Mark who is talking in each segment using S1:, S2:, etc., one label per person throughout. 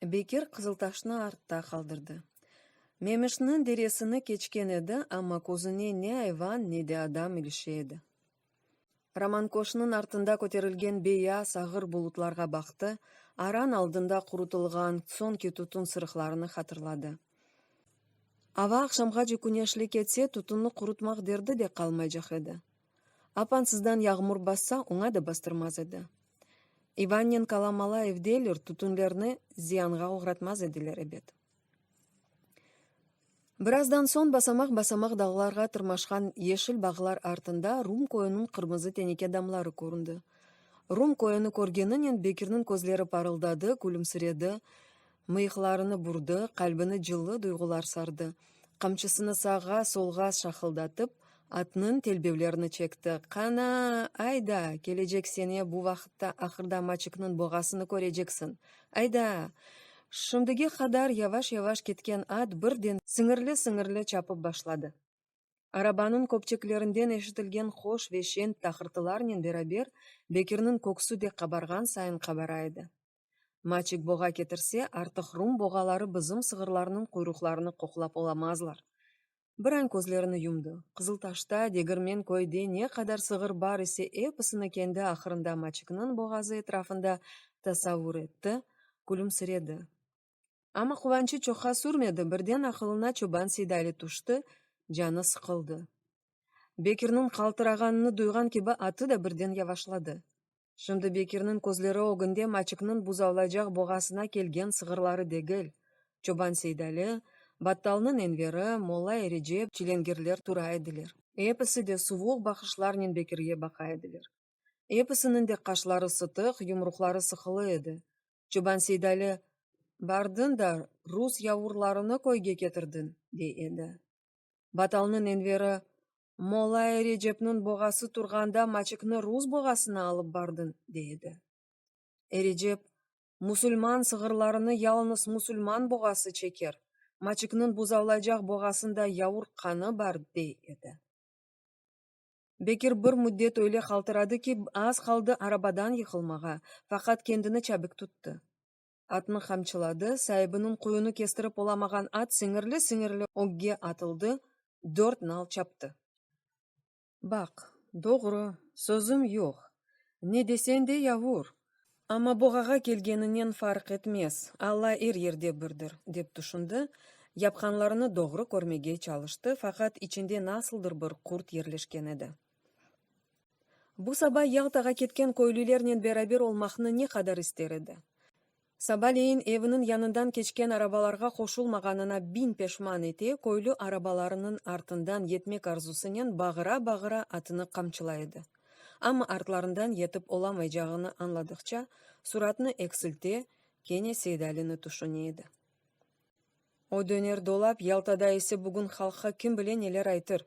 S1: Bekir Qızıltaşnı artta qaldırdı. Memişniñ deresini keçken edi, amma közüne ne ayvan, ne de adam ilişe edi. Roman köşkniñ artında köterilgen beyaz, ağır bulutlarğa baqtı, aran aldında qurutılğan soñki tutun sırıqlarını hatırladı. Ava aqşamğace küneşli ketse, tutunnı qurutmaq derdi de qalmaycaq edi. Apansızdan yağmur bassa, oña da bastırmaz edi. İvannenkala mala evdeyler, tütünlerni ziyanğa oğratmaz ediler, ebet. Birazdan soñ basamaq-basamaq dağlarğa tırmaşqan yeşil bağlar artında Rum köyüniñ qırmızı teneke damları köründi. Rum köyüni körgeninen Bekirniñ közleri parıldadı, külümsiredi, mıyıqlarını burdı, qalbini cıllı duyğular sardı, qamçısını sağğa, solğa şaqıldatıp, Atnıñ telbevlerini çekti. Qana, ayda, kelecek sene bu vaqıtta ahırda Maçıknıñ boğasını köreçeksiñ. Ayda! Şimdige qadar yavaş-yavaş ketken at birden sıñırlı-sıñırlı çapıp başladı. Arabanıñ köpçeklerinden eşitilgen hoş ve şeñ taqırtılarnen beraber Bekirniñ köksü de qabarğan sayın qabara edi. Maçık boğa ketirse, artıq rum boğaları bizim sığırlarnıñ quyruqlarını qoqlap olamazlar, Bir añ közlerini yumdı. Qızıltaşta, Degirmen köyde ne qadar sığır bar ise, episini kendi ahırında Maçıknıñ boğazı etrafında tasavur etti, külümsiredi. Amma quvançı çoqqa sürmedi, birden aqılına çoban Seydali tüşti, canı sıqıldı. Bekirniñ qaltırağanını duyğan kibi atı da birden yavaşladı. Şimdi Bekirniñ közleri ögünde Maçıknıñ buzavlaycaq boğasına kelgen sığırları degil, çoban Seydali, battalnıñ Enveri, molla Erecep, çilengirler tura ediler. Episi de suvuq baqışlarnen Bekirge baqa ediler. Episiniñ de qaşları sıtıq, yumruqları sıqılı edi. Çoban Seydali, Bardıñ da, rus yavurlarını köyge ketirdiñ, dey edi. Batalnıñ enveri, Molai Recepniñ boğası turğanda maçıknı rus boğasına alıp bardın, dey edi. Erecep, Musulman sığırlarını yalınız musulman boğası çeker, maçıknıñ buzavlaycaq boğasında yavur qanı bar, dey edi. Bekir bir müddet öyle qaltıradı ki, az qaldı arabadan yıqılmağa, faqat kendini çabik tuttı. Atnı qamçıladı, saibiniñ qoyunı kestirip olamağan at siñirli-siñirli ögge atıldı, dört nal çaptı. Baq, doğru, sözüm yoq, ne desen de yavur, amma boğağa kelgeninen farq etmez, Alla er yerde birdir, dep tüşündi, yapqanlarını doğru körmege çalıştı, faqat içinde nasıldır bir qurt yerleşken edi. Bu saba Yaltağa ketken köylülernen beraber olmaqnı ne qadar ister edi. Sabaleyin eviniñ yanından keçken arabalarğa qoşulmağanına biñ peşman ete, köylü arabalarınıñ artından yetmek arzusınen bağıra-bağıra atını qamçılay edi. Amma artlarından yetip olamaycağını añladıqça, suratnı eksilte, kene Seydalini tüşüne edi. O döner dolap, Yaltada ise bugün halqqa kim bile neler aytır?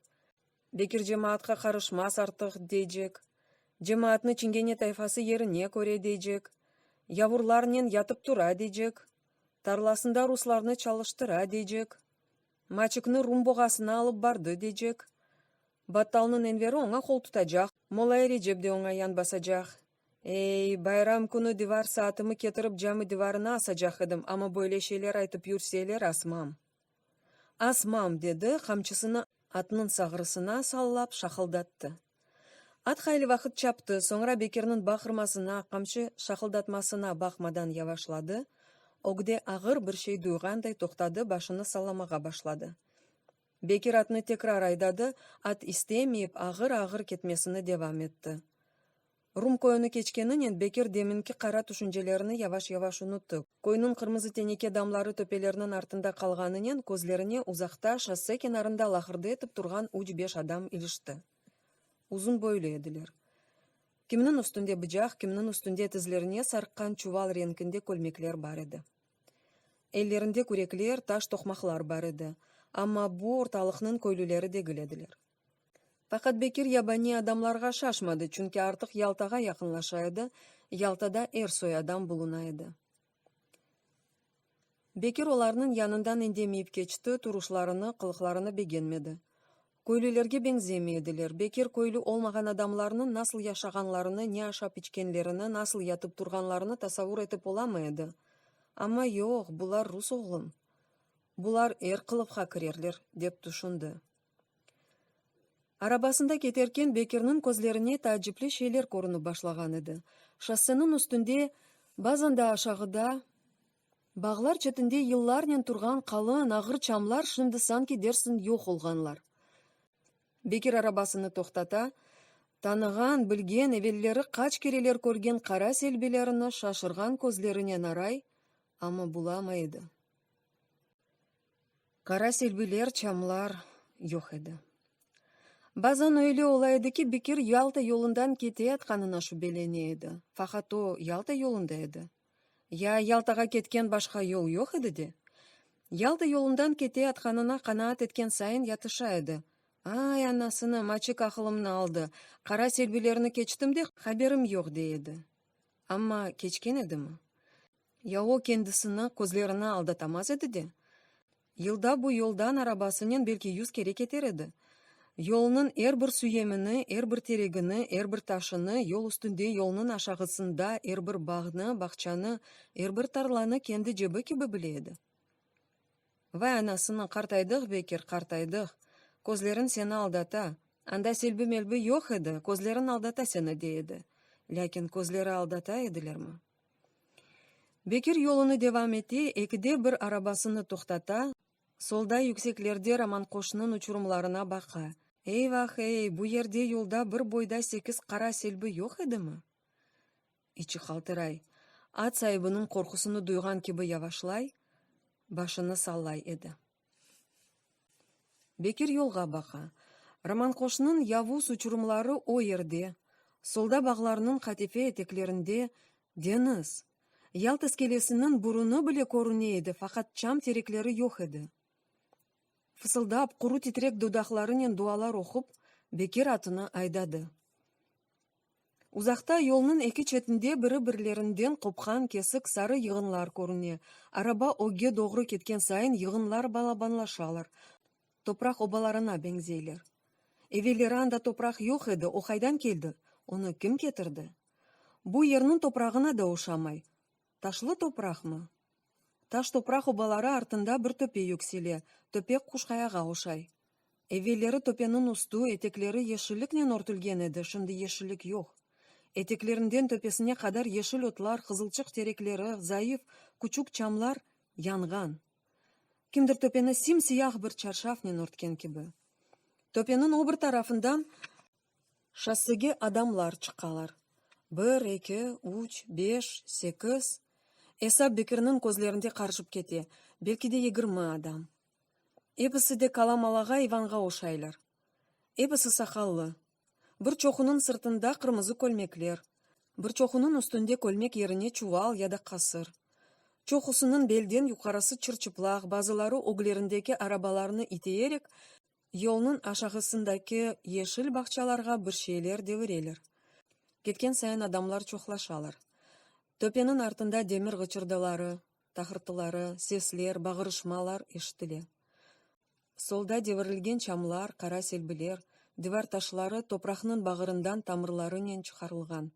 S1: Bekir cemaatqa qarışmaz artıq, deycek. Cemaatnı Çingene tayfası yerine köre, deycek. Yavurlarnen yatıp-tura, deycek. Tarlasında ruslarnı çalıştıra, deycek. Maçıknı Rum boğasına alıp bardı, deycek. Battalnıñ Enveri oña qol tutacaq, Molay Recep de oña yan basacaq. Ey, bayram künü divar saatımı ketirip cami divarına asacaq edim, amma böyle şeyler aytıp yürseler, asmam. Asmam! dedi, qamçısını atnıñ sağrısına sallap şaqıldattı. At hayli vaqıt çaptı, soñra Bekirniñ baqırmasına, qamçı şaqıldatmasına baqmadan yavaşladı, ögde ağır bir şey duyğanday toqtadı, başını sallamağa başladı. Bekir atnı tekrar aydadı, at istemeyip, ağır-ağır ketmesini devam etti. Rum koyunı keçkeninen Bekir deminki qara tüşüncelerini yavaş-yavaş unuttı. Koyunıñ qırmızı teneke damları töpelerniñ artında qalğanınen közlerine uzaqta, şosse kenarında laqırdı etip turğan üç-beş adam ilişti. Uzun boylu ediler. Kimniñ üstünde bıcaq, kimniñ üstünde tizlerine sarqqan çuval renkinde kölmekler bar edi. Ellerinde kürekler, taş toqmaqlar bar edi. Amma bu ortalıqnıñ köylüleri degil ediler. Faqat Bekir yabaniy adamlarğa şaşmadı, çünki artıq Yaltağa yaqınlaşa edi, Yaltada er soy adam buluna edi. Bekir olarnıñ yanından endemeyip keçti, turuşlarını, qılıqlarını begenmedi. Köylülerge beñzemey ediler. Bekir köylü olmağan adamlarnıñ nasıl yaşağanlarını, ne aşap-içkenlerini, nasıl yatıp-turğanlarını tasavur etip olamay edi. Amma yoq, bular rus oğlum. Bular er qılıqqa kirerler, dep tüşündi. Arabasında keterken Bekirniñ közlerine taacipli şeyler körünip başlağan edi. Şossenıñ üstünde, bazan da aşağıda, bağlar çetinde yıllarnen turğan qalın, ağır çamlar şimdi sanki dersiñ yoq olğanlar. Bekir arabasını toqtata, tanığan, bilgen, evelleri qaç kereler körgen qara selbilerini şaşırğan közlerinen aray, amma bulamay edi. Qara selbiler, çamlar yoq edi. Bazan öyle ola edi ki, Bekir Yalta yolundan keteyatqanına şübelene edi, faqat o, Yalta yolunda edi. Ya Yaltağa ketken başqa yol yoq edi de? Yalta yolundan keteyatqanına qanaat etken sayın yatışa edi, Ay, anasını, maçik aqılımnı aldı, qara selbilerni keçtim de, haberim yoq, dey edi. Amma keçken edimi? Ya o kendisini közlerini aldatamaz edi de, yılda bu yoldan arabasınen belki yüz kere keter edi. Yolnıñ er bir süyemini, er bir teregini, er bir taşını, yol üstünde, yolnıñ aşağısında er bir bağnı, bağçanı, er bir tarlanı kendi cebi kibi bile edi. Vay anasını, qartaydıq, Bekir, qartaydıq. Közleriñ seni aldata. Anda selbi-melbi yoq edi, közleriñ aldata seni, dey edi. Lâkin közleri aldata edilermi? Bekir yolunı devam ete, ekide bir arabasını toqtata, solda yükseklerde Romanqoşnıñ uçurumlarına baqa. Eyvah-ey, bu yerde yolda bir boyda sekiz qara selbi yoq edimi? İçi qaltıray, at saibiniñ qorqusını duyğan kibi yavaşlay, başını sallay edi. Bekir yolğa baqa. Romanqoşnıñ yavuz uçurumları o yerde, solda bağlarnıñ qatife eteklerinde, deñiz. Yalt iskelesiniñ burunı bile körüne edi, faqat çam terekleri yoq edi. Fısıldap, quru titrek dodaqlarınen dualar oqup, Bekir atını aydadı. Uzaqta, yolnıñ eki çetinde biri-birlerinden qopqan kesik sarı yığınlar körüne. Araba ögge doğru ketken sayın yığınlar balabanlaşalar, topraq obalarına beñzeyler. Evelleri anda topraq yoq edi, o qaydan keldi, onı kim ketirdi? Bu yerniñ toprağına da oşamay, Taşlı topraqmı? Taş topraq obaları artında bir töpe yüksele, töpe Quşqayağa oşay. Evelleri töpeniñ üstü, etekleri yeşilliknen örtülgen edi, şimdi yeşillik yoq. Eteklerinden töpesine qadar yeşil otlar, qızılçıq terekleri, zayıf, küçük çamlar, yanğan. Kimdir töpeni sim-siyah bir çarşafnen örtken kibi. Töpeniñ o bir tarafından Şossege adamlar çıqalar. Bir, eki, üç, beş, sekiz, esap Bekirniñ közlerinde qarışıp kete, belki de yigirmi adam. Episi de qala malağa İvanğa oşaylar. Episi saqallı. Bir çoqunıñ sırtında qırmızı kölmekler, bir çoqunıñ üstünde kölmek yerine çuval ya da qasır. Çoqusınıñ belden yuqarısı çır-çıplaq, bazıları öglerindeki arabalarını iteyerek, Yolnıñ aşağısındaki yeşil bağçalarğa bir şeyler devireler. Ketken sayın adamlar çoqlaşalar. Töpeniñ artında demir ğıçırdıları, tahırtıları, sesler, bağırışmalar eşitile. Solda devirilgen çamlar, qara selbiler, divar taşları topraqnıñ bağırından tamırlarınen çıqarılğan.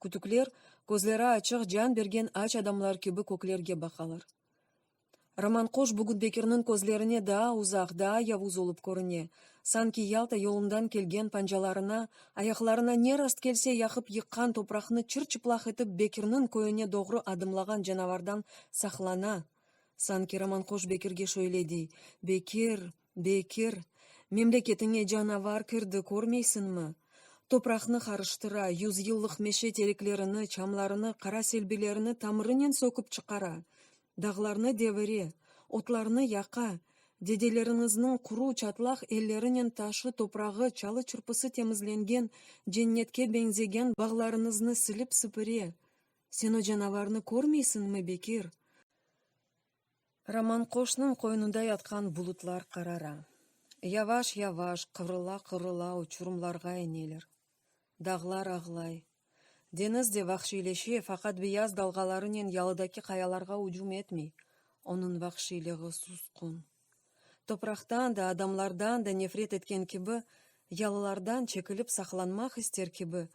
S1: Kütükler, közleri açıq, can bergen aç adamlar kibi köklerge baqalar. Roman quş bugün Bekirniñ közlerine daa uzaq, daa yavuz olıp körüne, sanki Yalta yolundan kelgen pancalarına, ayaqlarına ne rast kelse yaqıp yıqqan topraqnı çır-çıplaq etip Bekirniñ köyüne doğru adımlağan canavardan saqlana, sanki roman quş Bekirge şöyle dey, Bekir, Bekir, memleketiñe canavar kirdi, körmeysiñmi? Topraqnı qarıştıra, yüzyıllıq meşe tereklerini, çamlarını, qara selbilerini tamırınen sökip çıqara, dağlarnı devire, otlarnı yaqa, dedeleriñizniñ quru, çatlaq ellerinen taşı, toprağı, çalı-çırpısı temizlengen, cennetke beñzegen bağlarıñıznı silip-sipire. Sen o canavarnı körmeysiñmi, Bekir? Roman qoşnıñ qoynunda yatqan bulutlar qarara. Yavaş-yavaş, qıvrıla-qıvrıla uçurımlarğa ineler. Dağlar ağlay. Deñiz de vahşiyleşe, faqat beyaz dalğalarınen yalıdaki qayalarğa ücüm etmey, onıñ vahşiyliği susqun. Topraqtan da, adamlardan da nefret etken kibi, yalılardan çekilip saqlanmaq ister kibi,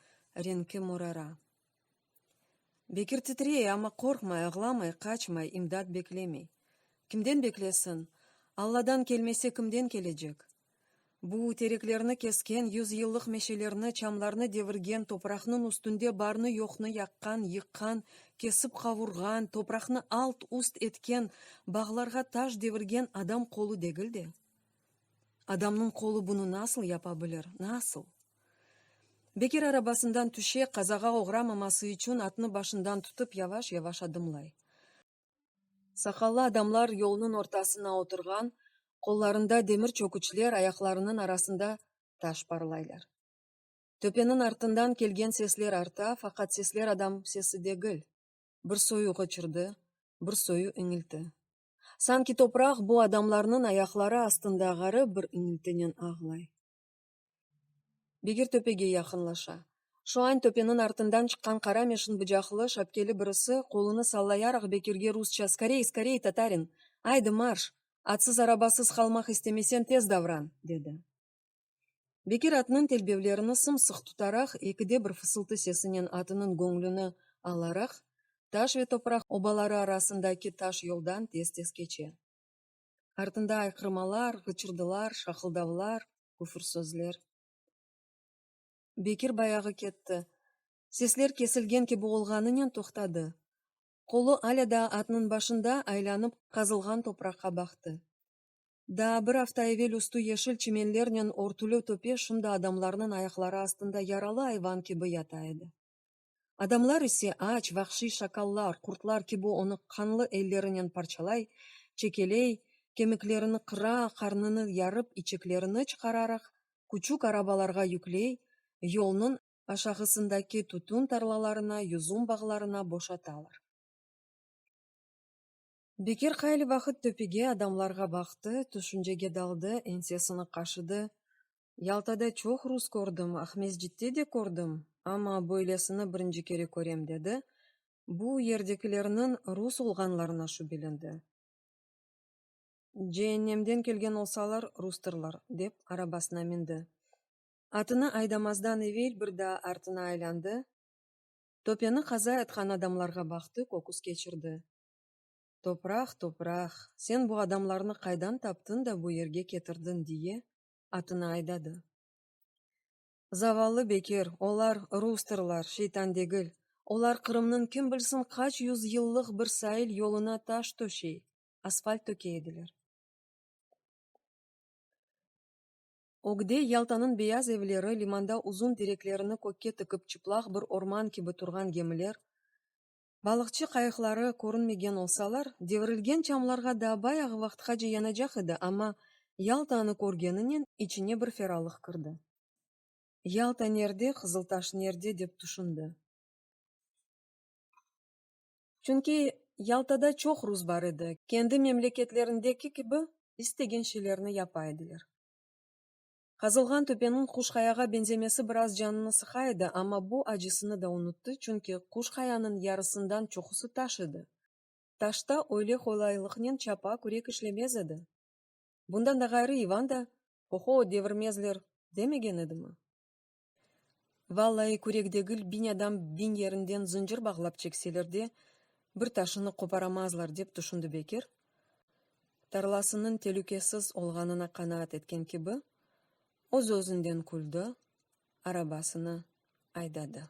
S1: renki morara. Bekir titrey, amma qorqmay, ağlamay, qaçmay, imdat beklemey. Kimden beklesin? Alladan kelmese, kimden kelecek? Bu, tereklerni kesken, yüzyıllıq meşelerni, çamlarnı devirgen, topraqnıñ üstünde barnı-yoqnı yaqqan, yıqqan, kesip qavurğan, topraqnı alt-üst etken, bağlarğa taş devirgen adam qolu degil de. Adamnıñ qolu bunı nasıl yapa bilir, nasıl? Bekir arabasından tüşe, qazağa oğramaması içün atnı başından tutıp, yavaş-yavaş adımlay. Saqallı adamlar yolnıñ ortasına oturğan, qollarında demir çöküçler, ayaqlarınıñ arasında taş parlaylar. Töpeniñ artından kelgen sesler arta, faqat sesler adam sesi degil. Bir soyu ğıçırdı, bir soyu iñilti. Sanki topraq bu adamlarnıñ ayaqları astında ğarip bir iñiltinen ağlay. Begir töpege yaqınlaşa. Şuañ töpeniñ artından çıqqan qara meşin bıcaqlı, şapkeli birisi, qolunı sallayaraq Bekirge rusça, Skorey, skorey, tatarin! Aydı, marş! Atsız-arabasız qalmaq istemesen, tez davran! dedi. Bekir atnıñ telbevlerini sımsıq tutaraq, eki de bir fısıltı sesinen atınıñ göñlüni alaraq, taş ve topraq obaları arasındaki taş yoldan tez-tez keçe. Artında ayqırmalar, ğıçırdılar, şaqıldavlar, küfür sözler. Bekir bayağı ketti. Sesler kesilgen kibi olğanınen toqtadı. Qolu alâ daa atnıñ başında aylanıp qazılğan topraqqa baqtı. Daa bir afta evel üstü yeşil çimenlernen örtülü töpe şimdi adamlarnıñ ayaqları astında yaralı ayvan kibi yata edi. Adamlar ise aç, vahşiy şakallar, qurtlar kibi onı qanlı ellerinen parçalay, çekeley, kemiklerini qıra, qarnını yarıp, içeklerini çıqararaq, küçük arabalarğa yükley, yolnıñ aşağısındaki tütün tarlalarına, yüzüm bağlarına boşatalar. Bekir qayli vaqıt töpege, adamlarğa baqtı, tüşüncege daldı, ensesini qaşıdı, Yaltada çoq rus kördim, Aqmescitte de kördim, amma böylesini birinci kere körem, dedi, bu yerdekilerniñ rus olğanlarına şübelendi. Ceennemden kelgen olsalar, rustırlar, dep, arabasına mindi. Atını aydamazdan evel bir daa artına aylandı, töpeni qaza etqan adamlarğa baqtı, köküs keçirdi. Topraq, topraq, sen bu adamlarnı qaydan taptın da bu yerge ketirdiñ, diye atını aydadı. Zavallı Bekir, olar rustırlar, şeytan degil, olar Qırımnıñ kim bilsin qaç yüz yıllıq bir sail yoluna taş töşey, asfalt töke ediler. Ögde Yaltanıñ beyaz evleri, limanda uzun tereklerini kökke tıkıp çıplaq bir orman kibi turğan gemiler, Balıqçı qayıqları körünmegen olsalar, devirilgen çamlarğa daa bayağı vaqtqace yanacaq edi, amma Yaltanı körgeninen içine bir feralıq kirdi. Yalta nerde, Qızıltaş nerde, dep tüşündi. Çünki Yaltada çoq rus bar edi, kendi memleketlerindeki kibi istegen şeylerni yapa ediler. Qazılğan töpeniñ Quşqayağa beñzemesi biraz canını sıqa edi, amma bu acısını da unuttı, çünki Quşqayanıñ yarısından çoqusı taş edi. Taşta öyle qolaylıqnen çapa, kürek işlemez edi. Bundan da ğayrı İvan da, Ho-ho, devirmezler, demegen edimi? Vallayı kürek degil, biñ adam biñ yerinden zıncır bağlap çekseler de, bir taşını qoparamazlar, dep tüşündi Bekir. Tarlasınıñ telükesiz olğanına qanaat etken kibi, öz-özünden küldi, arabasını aydadı.